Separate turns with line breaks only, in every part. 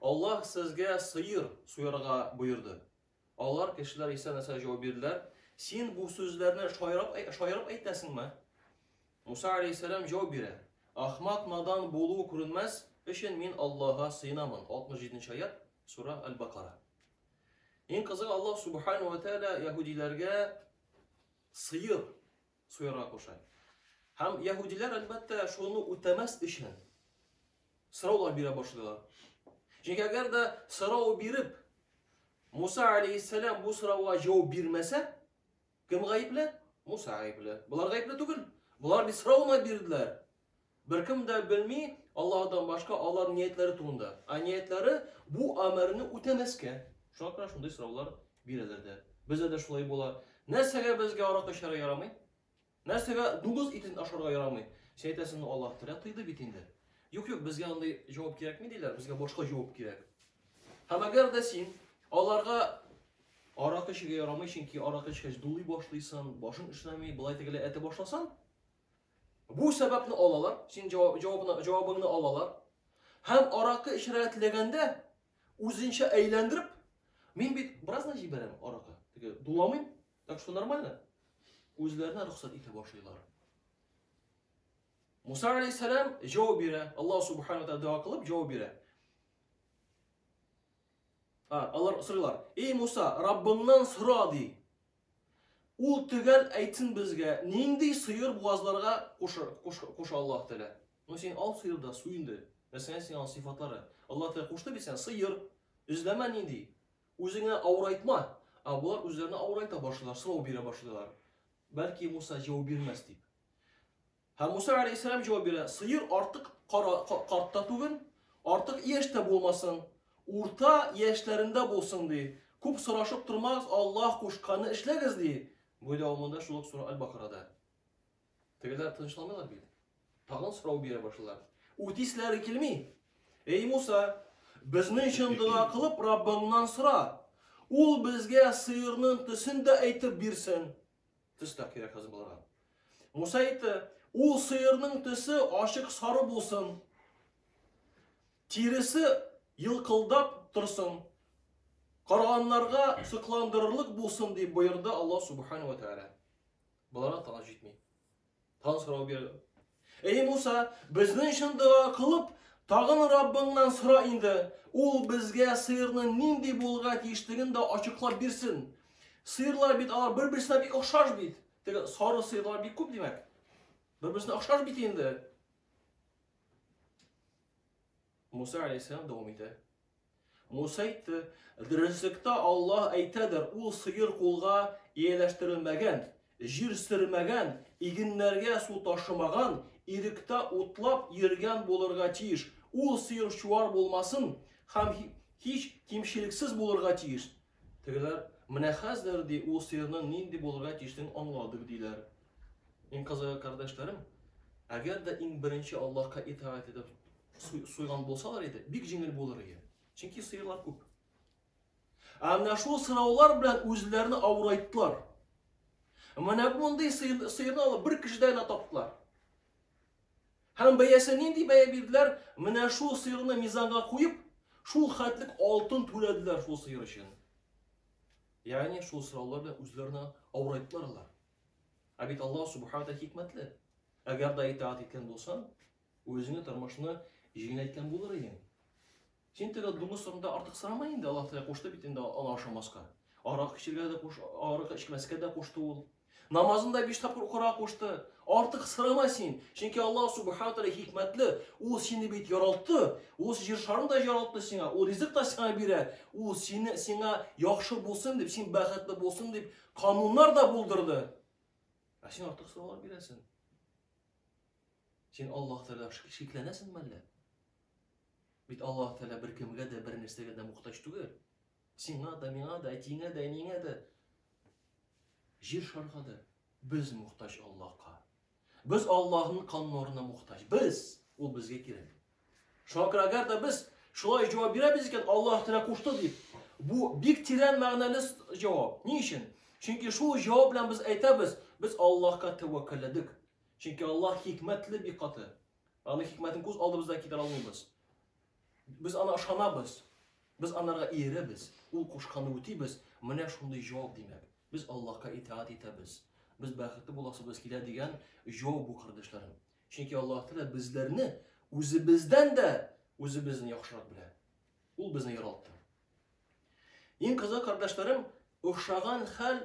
Аллаһ сезгә сыер суярга боерды. Алар, кешеләр Иса нәрсә җавап бирделәр? Син бу сүзләрне шаярып, шаярып әйтәсеңме? Муса алейхиссәлам җавап бирә. Ахмак надан булу күренмәс өчен мин Аллаһка сыенамын. 67 аят, сура Аль-Бакара. Иң кызыгы Аллаһ субхану ва тааля яһудиләргә сыер суярга куша. Һәм яһүдиләр, әлбәттә, шуны үтәмәс өчен сораулар бирә башлыйлар. Чөнки әгәр дә сорау биреп, Муса алейхиссалам бу сорауга җавап бирмәсә, кем гаепле? Муса гаепле. Болар гаепле түгел. Болар бит сорауны бирделәр. Беркем дә белми Аллаһыдан башка алар ниятләре турында. Ә ниятләре бу әмерне үтәмәскә. Шуңа күрә шундый сораулар бирәләр дә. Бездә дә шулай була. Нәрсәгә безгә аракы эчәргә ярамый? Нәрсәгә дугыз итен ашарга ярамый? Син әйтәсең, ну Аллаһ Тәгалә тыйды бит инде. Юк, юк, безгә андый җавап кирәкми диләр, безгә башка җавап кирәк. Һәм әгәр дә син аларга аракы эчәргә ярамый, чөнки аракы эчкәч дулый башлыйсың, башың эшләми, былай тегеләй әйтә башласаң, Бу сәбәпне алалар, син җавап, җавабына, җавабыңны алалар. Һәм аракы эчәргә теләгәндә, үзенчә әйләндереп, мин бит бераз гына җибәрәм аракы, теге дуламыйм, так что нормально. Үзләренә рөхсәт итә башлыйлар. Муса алейхиссалам җавап бирә, Аллаһ субхану тәгалә дога кылып җавап бирә. Алар сорыйлар, "Эй Муса, Раббыңнан сора" ди. Ул төгәл әйтсен безгә, нинди сыер буазларга куша Аллаһ Тәгалә? Ну син ал сыер да су инде. Мәсәлән, син ал сыйфатлары. Аллаһ Тәгалә кушты бит сиңа сыер. Эзләмә нинди. Үзеңә авырайтма. Ә болар үзләренә авырайта башлыйлар, сорау бирә башлыйлар. Бәлки Муса җавап бирмәс дип. Һәм Муса галәйһиссәлам җавап бирә, сыер артык карт та түгел, артык яшь тә булмасын, урта яшьләрендә булсын, ди. Күп сорашып тормагыз, Аллаһ кушканны эшләгез, ди. Бу дәвамында шул ук сура Аль-Бакарада. Тегеләр тынычланмыйлар бит. Тагын сорау бирә башлар. Үтисләре килми. Эй Муса, безнең өчен дога кылып Раббыңнан сора. Ул безгә сыерның төсен дә әйтеп бирсен. Төс тә кирәк хәзер боларга. Муса әйтте, ул сыерның төсе ашык сары булсын, тиресе елкылдап торсын, караганнарга сокландырырлык булсын, дип боерды Аллаһ Субхану ва Тәгалә. Боларга тагын җитми. Тагын сорау бирде. Эй Муса, безнең өчен дога кылып, тагын Раббыңнан сора инде. Ул безгә сыйырның нинди булырга тиешлеген дә ачыклап бирсен. Сыйырлар бит алар бер-берсенә бик охшаш бит. Теге сары сыйырлар бик күп димәк. Бер-берсенә охшаш бит инде. Муса алейхиссалам дәвам итә. Муса әйтте, Дөреслектә Аллаһ әйтәдер, ул сыер кулга ияләштерелмәгән, җир сөрмәгән, игеннәргә су ташымаган, иректә утлап йөргән булырга тиеш. Ул сыер чуар булмасын һәм һич кимчелексез булырга тиеш. Тегеләр, Менә хәзер, ди, ул сыерның нинди булырга тиешен аңладык, диләр. Иң кызыгы, кардәшләрем, әгәр дә иң беренче Аллаһка итаәт итеп суйган булсалар иде, бик җиңел булыр иде. Чөнки сыерлар күп. Ә менә шул сораулар белән үзләрен авырайттылар. Менә мондый сыерны алып бер кешедә генә таптылар. Һәм бәясе нинди бәя бирделәр? Менә шул сыерны мизанга куеп, шул хәтлек алтын түләделәр шул сыер өчен. Ягъни шул сораулар белән үзләренә авырайттылар алар. Ә бит Аллаһ Субхаһу Тәгалә хикмәтле. Әгәр дә итаат иткән булсаң, үзеңне тормышны җиңеләйткән булыр идең. Син теге дуңгыз турында артык сорама инде, Аллаһ Тәгалә кушты бит инде аны ашамаска. Арак эчергә дә куш, арак эчмәскә дә кушты ул. Намазын да биш тапкыр укырга кушты. Артык сорама син, чөнки Аллаһ Субхаһу Тәгалә хикмәтле. Ул сине бит яралты, ул җир шарын да яралты сиңа, ул ризык та сиңа бирә. Ул сине сиңа яхшы булсын дип, син бәхетле булсын дип, Кануннар да булдырды. Ә син артык сораулар бирәсең. Син Аллаһ Тәгалә шикләнәсең мәллә? Бит Аллаһ Тәгалә бер кемгә дә, бер нәрсәгә дә мохтаҗ түгел. Сиңа да, миңа да, әтиңә дә, әниеңә дә, җир шарга да без мохтаҗ Аллаһка. Без Аллаһның кан нурына мухтаҗ. Без, ул безгә кирәк. Шуңа күрә әгәр дә без шулай җавап бирәбез икән, Аллаһ Тәгалә кушты дип, бу бик тирән мәгънәле җавап. Ни өчен? Чөнки шул җавап белән без әйтәбез, без Аллаһка тәвәккәлләдек. Чөнки Аллаһ хикмәтле бик каты. Аның хикмәтен күз алдыбызда китерә алмыйбыз. Без ана ышанабыз, без анарга иеребез, ул кушканны үтибез, менә шундый җавап димәк. Без Аллаһка итаәт итәбез. Без бәхетле буласыбыз килә дигән җавап бу кардәшләрем. Чөнки Аллаһ Тәгалә безләрне үзебездән дә үзебезне яхшырак белә. Ул безне яралта. Иң кызык кардәшләрем, охшаган хәл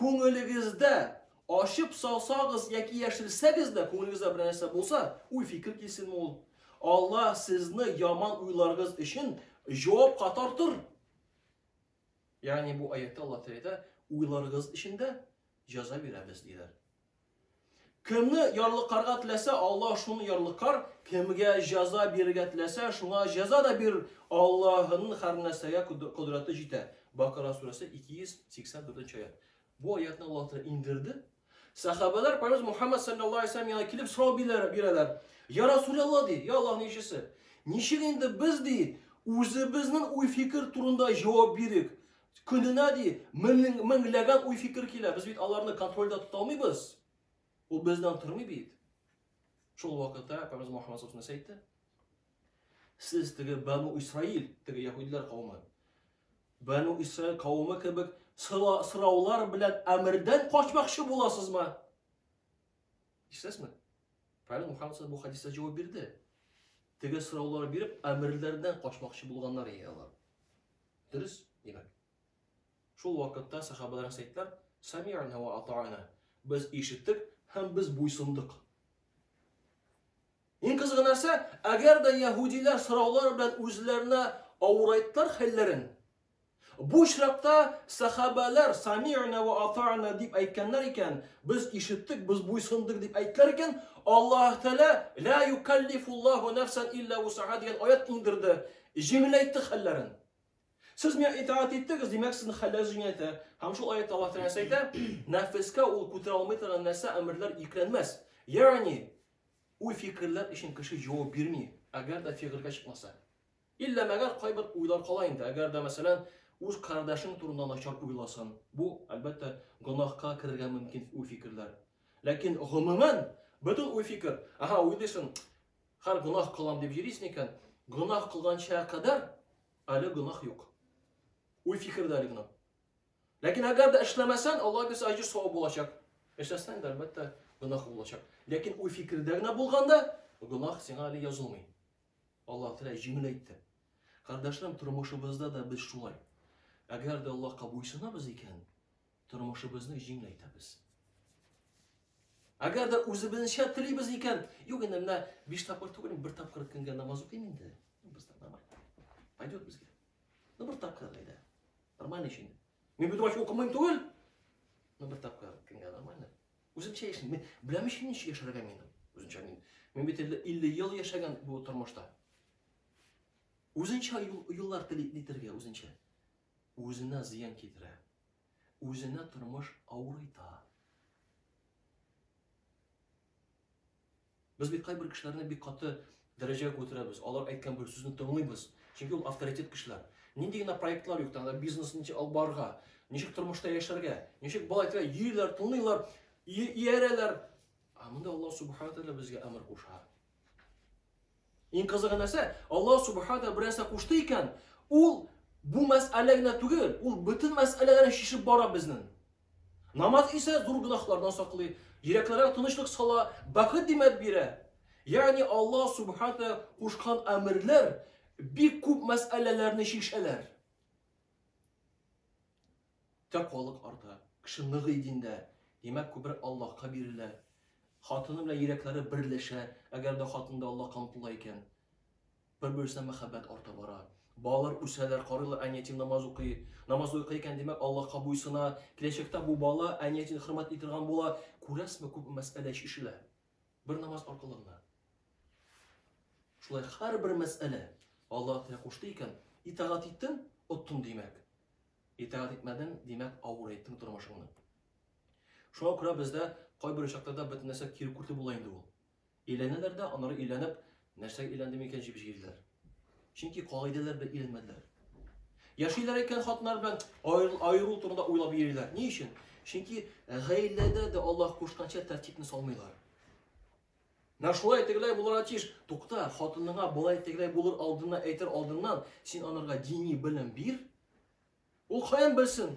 Күңелегездә, ачып салсагыз яки яшерсәгез дә, күңелегездә бер нәрсә булса, уй-фикер килсенме ул? Алла сезне яман уйларыгыз өчен җавапка тартыр. Ягъни бу аятта Алла Тәгалә уйларыгыз өчен дә җәза бирәбез диләр. Кемне ярлыкарга теләсә Аллаһ, шуны ярлыкар, кемгә җәза бирергә теләсә, шуңа җәза да бирер, Аллаһының һәрнәрсәгә кодрәте җитә. Бакара сүрәсе 284 нче аят. Бу аятны Аллаһ Тәгалә иңдерде. Сәхабәләр Пәйгамбер Мухаммад саллаллаһу алейһи ва саллям янына килеп сорау бирәләр. Я Расулаллаһ ди, я Аллаһның илчесе. Ничек инде без ди, үзебезнең уй-фикер турында җавап бирик? Көненә, ди, мең, меңләгән уй-фикер килә. Без бит аларны контрольдә тота алмыйбыз. Ул бездән тормый бит. Шул вакытта Пәйгамбәр Мөхәммәд сүзне әйтте. Сез теге Бану Исраил, теге яһүдләр кавымы. Бану Исраил кавымы кебек сораулар белән әмердән качмакчы буласызмы? Ишетәсезме? Пәйгамбәр Мөхәммәд бу хадисә җавап бирде. Теге сораулар биреп, әмерләрдән качмакчы булганнар иде алар. Дөрес, димәк. Шул вакытта сахабәләр сәйтләр, Сами'на вә ата'на, без ишеттек һәм без буйсындык. Иң кызыгы нәрсә, әгәр дә яһудиләр сораулар белән үзләренә авырайттар хәлләрен, бу очракта сахабәләр Сами'на вә ата'на дип әйткәннәр икән, без ишеттек, без буйсындык дип әйттеләр икән, Аллаһ Тәгалә, Ла юкаллифуллаху нафсан илля усаха дигән аят иңдерде, Җиңеләйтте хәлләрен. Сез миңа итаат иттегез, димәк, сезнең хәлләрегез җиңеләйтә. Һәм шул аятта Аллаһ Тәгалә әйтә, нәфескә ул күтәрә алмый торган нәрсә, әмерләр йөкләнмәс. Ягъни, уй-фикерләр өчен кеше җавап бирми, әгәр дә фигылькә чыкмаса. Иллә мәгәр кайбер уйлар кала инде, әгәр дә, мәсәлән, үз кардәшең турында начар уйласын. Бу, әлбәттә, гөнаһка керергә мөмкин уй-фикерләр. Ләкин гомумән, бөтен уй-фикер, аһа, уйлыйсың, Хәр гунах кылам дип йөрис микән? Гунах кылганча кадәр әле гунах юк. Уй фикер дә әле генә. Ләкин әгәр дә эшләмәсән, Аллаһ бирсә аҗир савап булачак. Эшләсәң дә әлбәттә гунах булачак. Ләкин уй фикердә генә булганда гунах сиңа әле язылмый. Аллаһ Тәгалә җиңел әйтте. Кардәшләрем, тормышыбызда да без шулай. Әгәр дә Аллаһка буйсынабыз икән, Тормышыбызны җиңеләйтәбез. Әгәр дә үзебезчә телибез икән, юк инде менә биш тапкыр түгел, бер тапкыр көнгә намаз укыйм инде. Без намаз. Пойдет безгә. Ну бер тапкыр әйдә. Нормально ич инде. Мин бөтен вакыт укымыйм түгел. Ну бер тапкыр көнгә нормально. Үземчә яшим. Мин беләм ич ничек яшәргә мин. Үземчә мин. Мин бит 50 ел яшәгән бу тормышта. Үзенчә юллар телитергә үзенчә. Үзенә зыян китерә. Үзенә тормыш авырыйта. Без бит кайбер кешеләрне бик каты дәрәҗәгә күтәрәбез, алар әйткән бер сүзне тыңлыйбыз, чөнки ул авторитет кешеләр. Нинди генә проектлар юк, тагын да бизнесны ничек алып барырга, ничек тормышта яшәргә, ничек болай итәргә, йөриләр, тыңлыйлар, иярәләр. Ә монда Аллаһ Субхана Тәгалә безгә әмер куша. Иң кызыгы нәрсә, Аллаһ Субхана бер нәрсә кушты икән, ул бу мәсьәлә генә түгел, ул бөтен мәсьәләләрне чишеп бара безнең. Намаз исә зур гөнаһлардан саклый, йөрәкләргә тынычлык сала, бәхет димәп бирә. Ягъни Аллаһ Субхана кушкан әмерләр бик күп мәсьәләләрне чишәләр. Тә халык арта. Кеше ныгый диндә. Димәк, күбрәк Аллаһка бирелә. Хатыны белән йөрәкләре берләшә, әгәр дә хатын да Аллаһка омтыла икән. Бер-берсенә мәхәббәт арта бара. Балалар үсәләр, карыйлар, әниятим намаз укый. Намаз укый икән, димәк, Аллаһка буйсына. Киләчәктә бу бала әниятин хөрмәтли торган була. Күрәсезме, күпме мәсьәлә чишелә. Бер намаз аркылы гына. Шулай һәрбер мәсьәлә Аллаһ Тәгалә кушты икән, итагать иттең, оттың димәк. Итагать итмәдең, димәк, авырайттың тормышыңны. Шуңа күрә бездә кайбер очракларда бөтен нәрсә киркүрте була инде ул. Өйләнәләр дә, аннары өйләнеп, нәрсәгә өйләндем икән җип җыелдылар. Чөнки кагыйдәләр белән өйрәнмәделәр. Яшиләр икән хатыннар белән аерылу турында уйлап йөриләр. Ни өчен? Чөнки э, гаиләдә дә Аллаһ кушканча тәртипне салмыйлар. Менә шулай тегеләй булырга тиеш. Тукта, хатыныңа болай тегеләй булыр алдына әйтер алдыннан, син анарга дини белем бир. Ул каян белсен?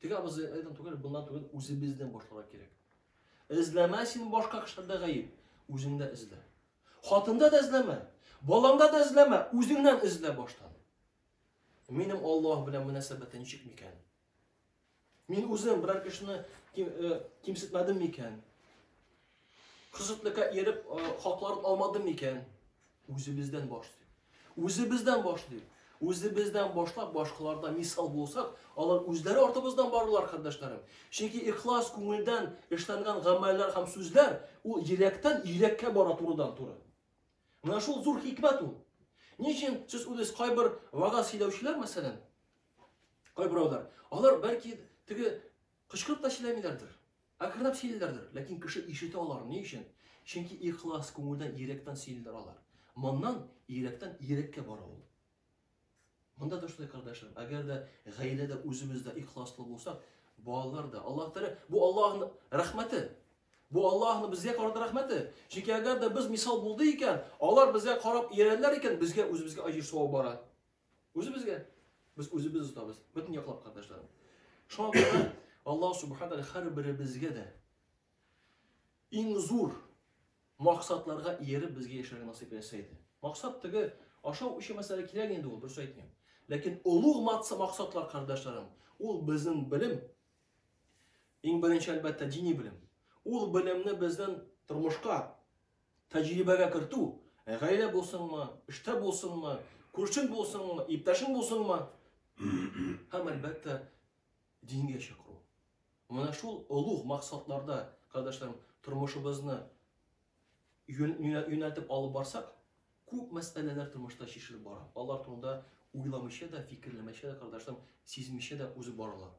Теге абызы айдан түгел, буннан түгел, үзебездән башларга кирәк. Эзләмә син башка кешеләрдә гаеп, үзеңдә эзлә. Хатында да эзләмә, балаңда да эзләмә, үзеңнән эзлә баштан. Минем Аллаһ белән мөнәсәбәте ничек микән? Мин үзем берәр кешене ким, э, кимсетмәдем микән? Кызытныкка ияреп хакларын алмадым микән? Үзебездән башлыйк. Үзебездән башлыйк. Үзебездән башлап башкаларда мисал булсак, алар үзләре артыбыздан барырлар, кардәшләрем. Чөнки ихлас күңелдән эшләнгән гамәлләр һәм сүзләр ул йөрәктән йөрәккә бара турыдан туры. Менә шул зур хикмәт ул. Ни өчен сез үзегез кайбер вагаз сөйләүчеләр мәсәлән, кайберәүләр, алар бәлки теге Кычкырып та сөйләмиләрдер. Акрынлап сөйлиләрдер, ләкин кеше ишетә алар. Ни өчен? Чөнки ихлас, күңелдән, йөрәктән сөйлиләр алар. Моннан йөрәктән йөрәккә бара ул. Монда да шулай, кардәшләрем. Әгәр дә гаиләдә үзебез дә ихласлы булсак, балалар да Аллаһ Тәгалә, бу Аллаһның рәхмәте. Бу Аллаһның безгә карата рәхмәте. Чөнки әгәр дә без мисал булды икән, алар безгә карап иярәләр икән, безгә үзебезгә аҗир савабы бара. Үзебезгә. Без үзебез озатабыз. Бөтен яклап катнашларын. Шуңа күрә Аллаһ Субхаһу ва һәрберебезгә дә иң зур максатларга иереп безгә яшәргә насыйп итсә иде. Максат теге ашау өчен мәсьәлә кирәк инде ул, дөрес әйтмим. Ләкин олуг максатлар, кардәшләрем, ул безнең белем. Иң беренче әлбәттә дини белем. Ул белемне безнең тормышка Тәҗрибәгә кертү, гаилә булсынмы, эштә булсынмы, күршең булсынмы, иптәшең булсынмы, һәм, әлбәттә, дингә чакыру. Менә шул олуг максатларда, кардәшләрем, тормышыбызны юнәлтеп алып барсак, күп мәсьәләләр тормышта чишелеп бара. Алар турында уйламыйча да, фикерләмичә дә, кардәшләрем, сизмичә дә узып баралар.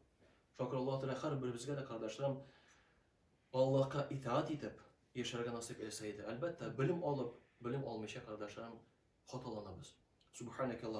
Шакыр Аллаһ Тәгалә һәрберебезгә дә, кардәшләрем, Аллаһка итаать итеп яшәргә насыйп итсә иде, әлбәттә, белем алып, белем алмыйча, кардәшләрем, хаталанабыз. Субханәкә